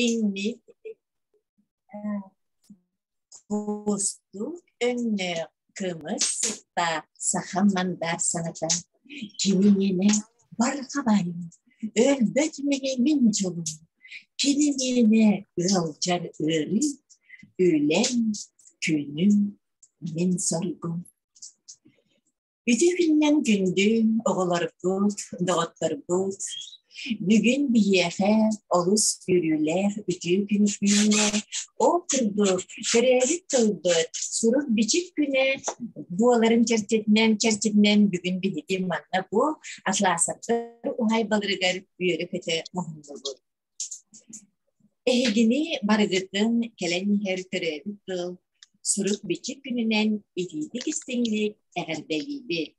инник куусту өннөөх кымыс сыттаах саха мандаах саната кининине барҕа байым өлбөт мигимин дьолум кининине ыалдьар ыарыы үлэм күнүм мин соргум Ити күннэн күндү оҕолорбут, доҕотторбут, бүгүн биһиэхэ олус үөрүүлээх үтүө күн күннэ ол курдук төрөөбүт тылбыт сурук-бичик күнэ буоларын чэрчитинэн чэрчитинэн бүгүн биһиги манна бу атлаасаттар уһайбаларыгар үөрэ-көтө муһуннубут Эһигини барыгытын кэлэн иһэр төрөөбүт тыл сурук-бичик күнүнэн итиитик истиҥник эҕэрдэлиибит!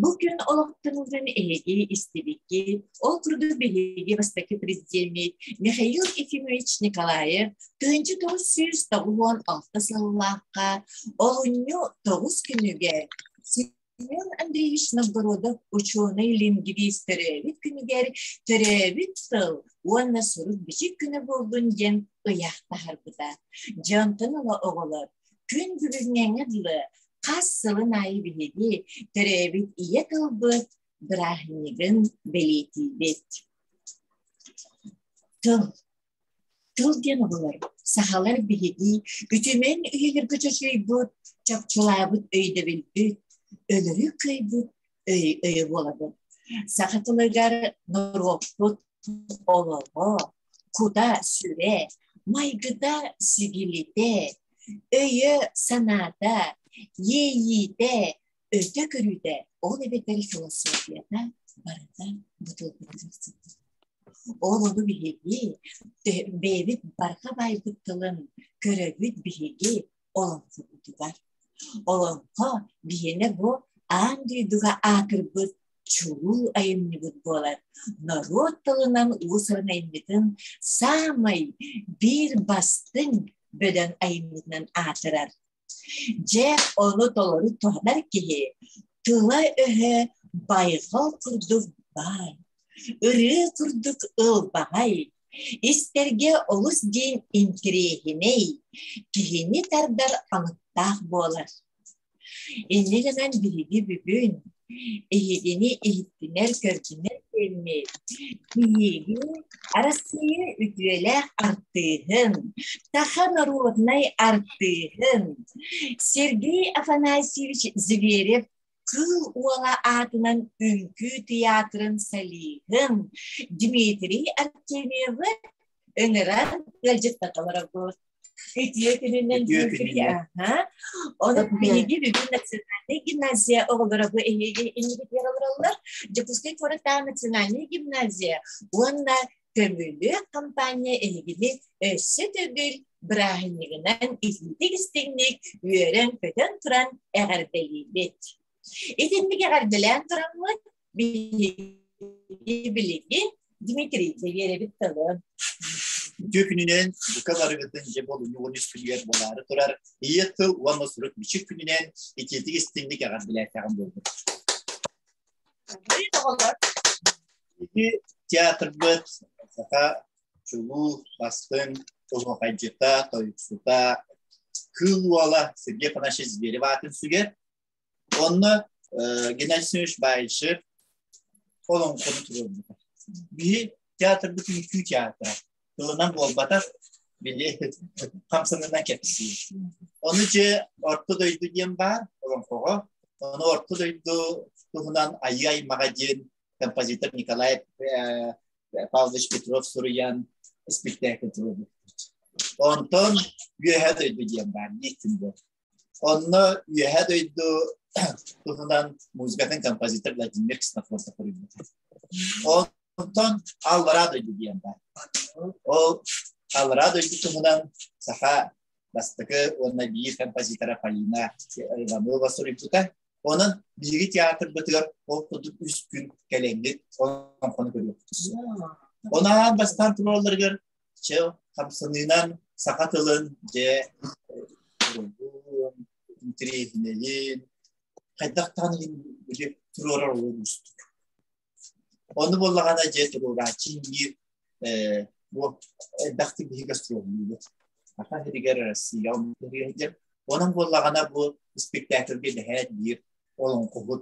Бу күн олохтонуутун эһиги истибиккит, ол курдук биһиги бастакы президеммит Михаил Ефимович Николаев тыынчы тоҕус сүүс тоҕуон алта сыллаахха олунньу тоҕус күнүгэр Семен Андреевич Новгородов учуонай лингвист төрөөбүт күнүгэр төрөөбүт сыл уонна сурук-бичик күнэ буоллун диэн ыйаахтаһарбыта. Дьонтон ыла оҕолор күн бүгүҥҥэҥэ дылы хас сылын аайы биһиги төрөөбүт ийэ тылбыт бырааһынньыгын бэлиэтиибит. Тыл Тыл диэн оҕолор сахалар биһиги үтүмэн үйэлэргэ чочуйбут, чопчулаабыт өйдөбүлбүт, өлөрү кыайбыт өй өйө буолабыт. Саха тылыгар норуоппут олоҕо, кута сүрэ, майгыта сүгилитэ, өйө санаата, иэйиитэ, Өрдө көрүүтэ ол эбэтэр философията барыта бытылгытык сытта. Ол ону биһиги бэйэбит барҕа баайбыт тылын көрөбүт биһиги олоҥхобутугар. Олоҥхо биһиэнэ бу аан дойдуга аакырбыт чулуу айымньыбыт буолар норуот тылынан уусуран айымньытын саамай биир бастыҥ бөдөҥ айымньытынан аатырар Дьэ, ону толору туһанар киһи тыла-өһө байҕал курдук баар, ырыа курдук ылбаҕай, истэргэ олус диин интириэһинэй, киһини тардар алыптаах буолар. Иннинэнэн биһиги бүгүн Эһигини иһиттинэр көрдүнэр кэмми Биһиги Арассыыйа үтүөлээх артыыһын, саха норуодунай артыыһын Сергей Афанасьевич Зверев Кыыл Уола аатынан үҥкүү тыйаатырын солиһын Дмитрий Артемьевы ыҥыран ыалдьыттаталара буолар Итиэ күнүнэн Ону биһиги бүгүн национальный гимназия оҕолоро бу эһиги иннигитигэр олороллор Дьокуускай куораттаах национальный гимназия уонна көмүлүөк компания эһигини өссө төгүл бырааһынньыгынан иһитик-истиҥник үөрэн-көтөн туран эҕэрдэлиибит Итинник эҕэрдэлээн тураммыт биһиги билигин Дмитрий Северевич тылын. Түүкүнүнэн быка барыгытын же болунугун үспүлүгэр болары турар ийэ тыл уонна сурук бичик күнүнэн итиити истинник эҕэрдэлээтэҕин болбут. театрбыт саха чулуу бастын улуохайдьыта тойуксута кыыл уола Сергей Панашин Зверев аатын сүгер Онно э, Геннадьевич Байшев олоҥхону туруорбута. Биһи театрбыт үҥкүү театра. Тылынан буолбатах, били хамсанынан кэпсиир. Ону дьэ Орто дойду диэн баар олоҥхоҕо. Ону Орто дойду туһунан Айыы-аймаҕа диэн композитор Николай э, Павлович Петров суруйан спектакль туруорбут. Онтон Үөһээ дойду диэн баар, диир күндэ. Онно үөһэ дойду туһунан музыкатын композитор Владимир Ксенофонтов көрүлбүт. Онтон Алвара дойду диэн бар. Ол Алвара дойду туһунан саха бастакы уонна биир композитора Полина Иванова суруйбута. Онон биһиги театрбытыгар ол курдук үс күн кэлэҥҥит олонхону көрүөхпүт. Онаан бастаан туралларыгар чыл хамсаныынан саха тылын дьэ интириэһинэйин хайдах даҕаны били туруорар олуон устук ону боллаҕана дьэ туруорааччы иҥиир бу элбэхтик биһиги астроnomiябыт саха сиригэр Россия онон буоллаҕана бу спектакльга дэһээт биир олоҥхоһут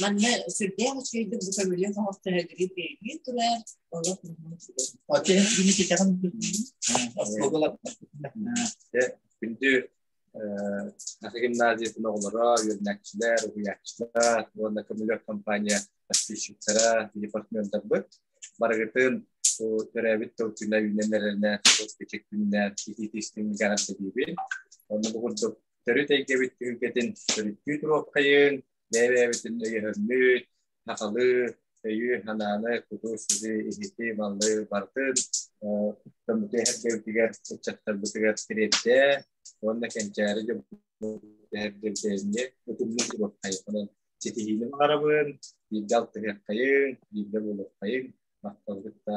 Манна сүрдээх үчүгэйдик бу көмүлүөн оҥостоһөллөрүн бэйэлиин турар, олох Оте били китэҕин Күндү гимназиятын оҕолоро, үөрэнээччилэр, уһуйааччылар уонна көмүлүөк компания подписчиктара, департмендарбыт барыгытын төрөөбүт тыл күнэ үүнэн эрэринэ кичик күннэр иһит истиҥигэр диибин. Онно бу курдук төрүт эйгэбит түһүлгэтин төрүттүү туруопкайын бэйэ-бэйэбитин өйөһөрмүт, сахалыы өйү, санааны, куту, сири, иһити, маллы бартын комитет эргэбитигэр, ыччаттарбытыгар тириэрдэ уонна кэнчээри дьоммутугар утумнуу сибэххайынан ситиһиини баҕарабын, биирдэ алтыһыаххайын, биирдэ буолуоххайын, махталгыт да.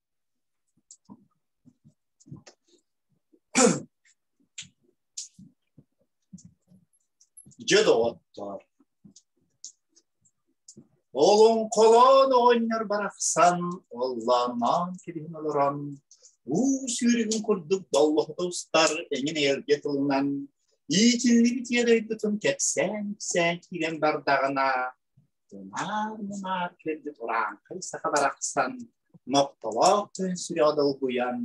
Дьэ доҕоттоор, олоҥхолоон оҕонньор барахсан оллааннаан кэбиһин олорон уу сүүрүгүн курдук доллоһута устар эҥин эйэлгэ тылынан иитиллибит ийэ дойдутун кэпсээн-кэпсээн киирэн бардаҕына Аанымаар кэлли турааҥкай саха барахсан, Ноктолоох күн сүрэҕэ долгуйан,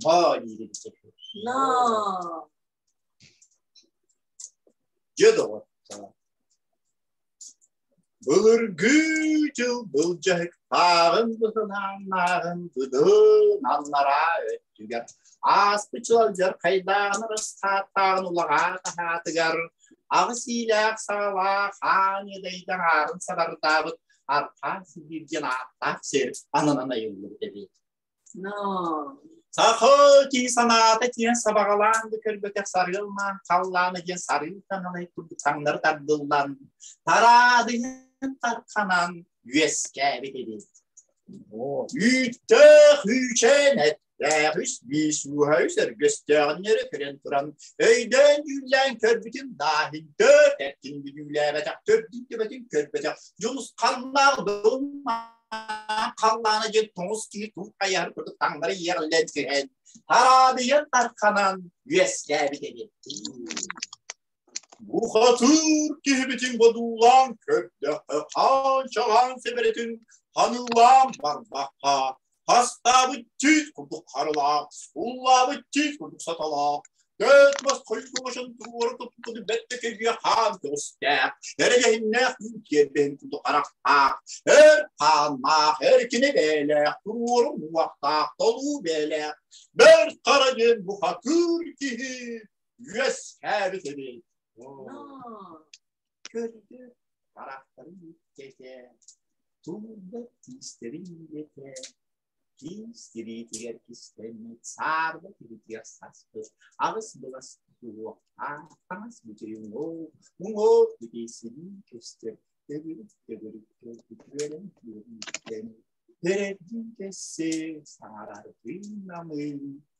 Ноо диирин Ноо. Дьэ доҕоттор, былыргы дьыл былдьаһыктааҕын быһынааннааҕын быдын аннараа түгэр ааспыт сылдьар хайдаан ырысхааттааҕын улаҕаа таһаатыгар аҕыс иилээх саалаах аан иэдэйдэн аарын сабардаабыт архаан сибиир диэн ааттаах сир ананан айыллыбыт эбит сахо кии санаата диэн сабаҕалаан да көрбөтөх сарыылнаан халлаана диэн сарыы таналай курдук таҥнары тардыллан тараадыйын тарханан үөскээбит ибин. Үүттээх үүчээн эттээх үс биис ууһа үс өргөстөөҕүннэри көрөн туран өйдөөн дьүүллээн көрбүтүм дааһын төрт эттин бүдүүлээбэтэхтөр диттибэтин көрбөтөх дьулус халлаах дылмаан халлаана дьин тоҥус киһи туут хайар курдук таҥнары иэҕиллэн түһэн тараадыйан тарханан үөскээбит ибин. Бухатыыр киһибитин бодуулаан көрдөхө аанчалаан сэбэрэтин ханылаан барбахха хастаабыт тиит курдук харылаах уллаабыт тиит курдук саталаах Төт мас хойгумашын туора туппуты бэтте кэйге хаан көҕүстээх, эрэгэһиннээх күн киэрбэһин курдук харахтаах, эр хааннаах, эр кинэ бээлээх, туруору муохтаах, толуу бээлээх, бэрт хара диэн бухатыыр киһи үөскээбит эбит. Көрдө харахтарын кэтэ, тулда тиистэрин ете, тиистириитигэр кистэммит саарба тиритигэр саспыт аҕыс былас туох таҥас бүтүн ол уҥоо бүтейсилии көстөр төгүрүк төгүрүк көрбүт үөрэн күөрүүттэн Передин кессе саарардыы намыы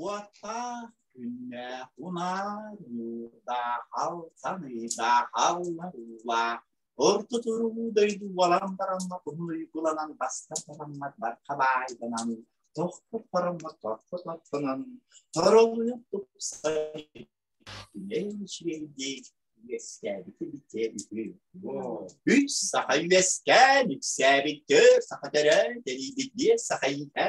Уоттаах күннээх унаар уудаахал саныыдаахаллар уулаах орто туруу дойду уолан бараммат уһун уйгуланан баста бараммат барха баайданан тохпут бараммат торпо топпунан торолуйук тупсай Чиэйдик үөскээбити бүтээбити. Үс саха үөскээн үксээбит төр саха төрөө тэриибит биэр саха иһэ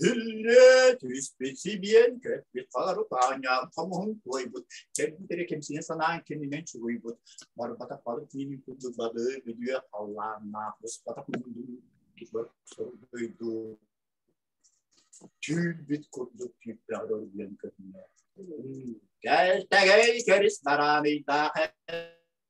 Түннэ түспүт сибиэн көппүт хаар тааньаан хомуһун туойбут кэрбитэрэ кимсине санаан кэнинен чугуйбут барбатах бары киинин курдук балы бүдүө халлааннаах бусбатах мунду кибер сордойду түүрбүт курдук тииппэҕэр диэн көрүнэ Кэлтэгэй керис нараныйдаах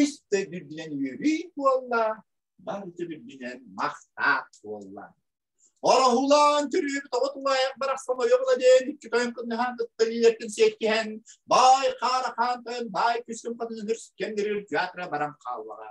үс да үрдүнэн үөрүй буолла, барыта үрдүнэн махтаат буолла. Ороһулаан төрүүбүт оҕо тулаайах барахсан ойоҕла диэн икки тойон кыннаһаан ыттарыйлэркин сиэккиһэн, бай хаара хаан тойон бай күскүн хатын үрс кендерир театра барам хааллаҕа.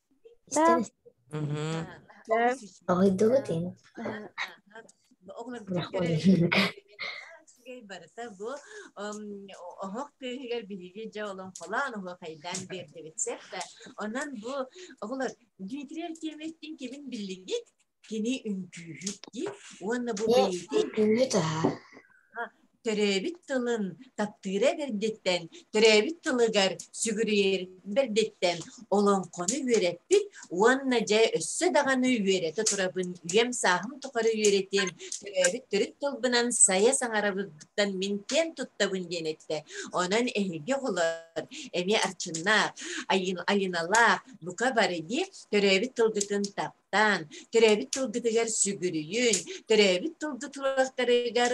Да. Мгм. Доҕойдугут ин. Үчүгэй барыта бу оһох тыаһыгар биһиги дьэ олон холаан оһох хайдаан биэрдибит сеп онон бу оҕолор Дмитрий Артемьевтин кебин биллингит кини үҥкүүһүт дии уонна бу бэйэтин төрөөбүт тылын таптыыра бэрдиттэн төрөөбүт тылыгар сүгүрүйэр бэрдиттэн олоҥхону үөрэппит уонна дьэ өссө даҕаны үөрэтэ турабын үйэм сааһым тухары үөрэтиэм төрөөбүт төрүт тылбынан сайа саҥарабыттан мин киэн туттабын диэн эттэ онон эһиги оҕолор эмиэ арчыннаах айыналаах бука бары дии төрөөбүт тылгытын тап таан төрөөбүт тылгытыгар сүгүрүйүн төрөөбүт тылгы тыллахтарыгар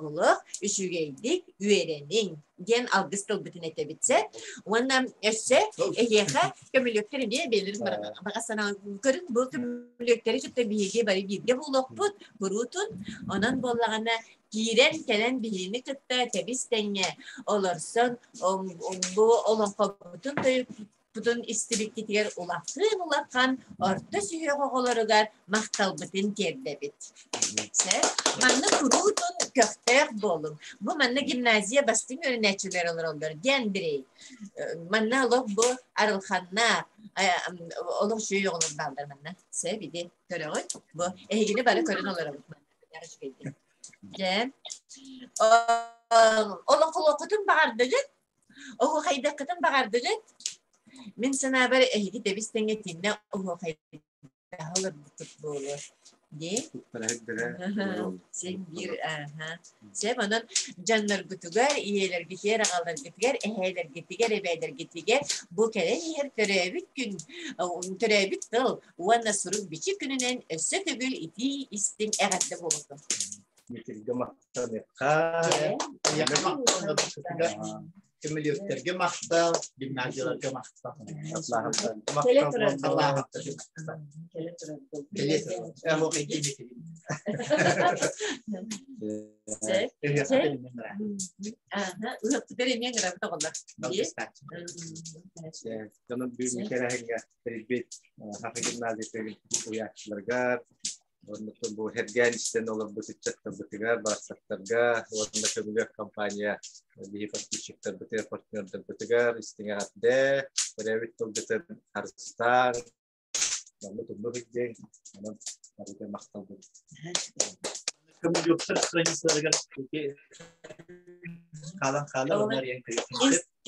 олох үчүгэйдик үөрэниҥ диэн алгыс тылбытын этэбит сэ уонна өссө эһиэхэ көмүлүөктэр эмиэ бэлэр баҕа санааларын көрүн бу көмүлүөктэри кытта биһиги бары бииргэ буолуохпут куруутун онон буоллаҕына киирэн кэлэн биһиги кытта тэбис тэҥҥэ олорсон бу олоҥхобутун Бутун истибиккитигэр улахан-улахан орто сүһүөх оҕолоругар махталбытын тиэрдэбит. Сэ, манна куруутун көхтөөх буолуҥ. Бу манна гимназия бастыҥ үөрэнээччилэр олороллор диэн бирэй. Манна олох бу арылханнаах олох жүйө оҕолор баалдар манна. Сэ биди көрөҕүт. Бу эһигини бары көрөн олоробут манна. Дьэ, олох олоххутун баҕардыгыт Оһуохайдаккытын баҕардыгыт? Мин санаабар эһиги тэбис тэҥэ тиннэ оһуохайдаах олорбуккут буолуо. Дии? Син биир аха. Сэп онон дьонноргутугар, ийэлэргитигэр, аҕаларгытыгар, эһээлэргитигэр, эбээлэргитигэр бу кэлэн иһэр төрөөбүт күн, төрөөбүт тыл уонна сурук-бичик күнүнэн өссө төгүл итии истиҥ эҕэрдэ буолуохтун. Митиргэ Көмөлүөктэргэ махтал, гимназияларга махтал. Гимназия гимназияларга бу эргээн истэн олорбут ыччаттарбытыгар, бастактарга уонна көмүлүөк компания биһи подписчиктарбытыгар, партнердарбытыгар истиҥэҕэрдэ, төрөөбүт тылгытын харыстаан, маннык умнук идең, манан арыта махталбыт. Көмүлүөктер страницаларыгар хаалан хаалан, олар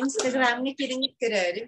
Инстаграмҥа кириҥик көрөөрүм.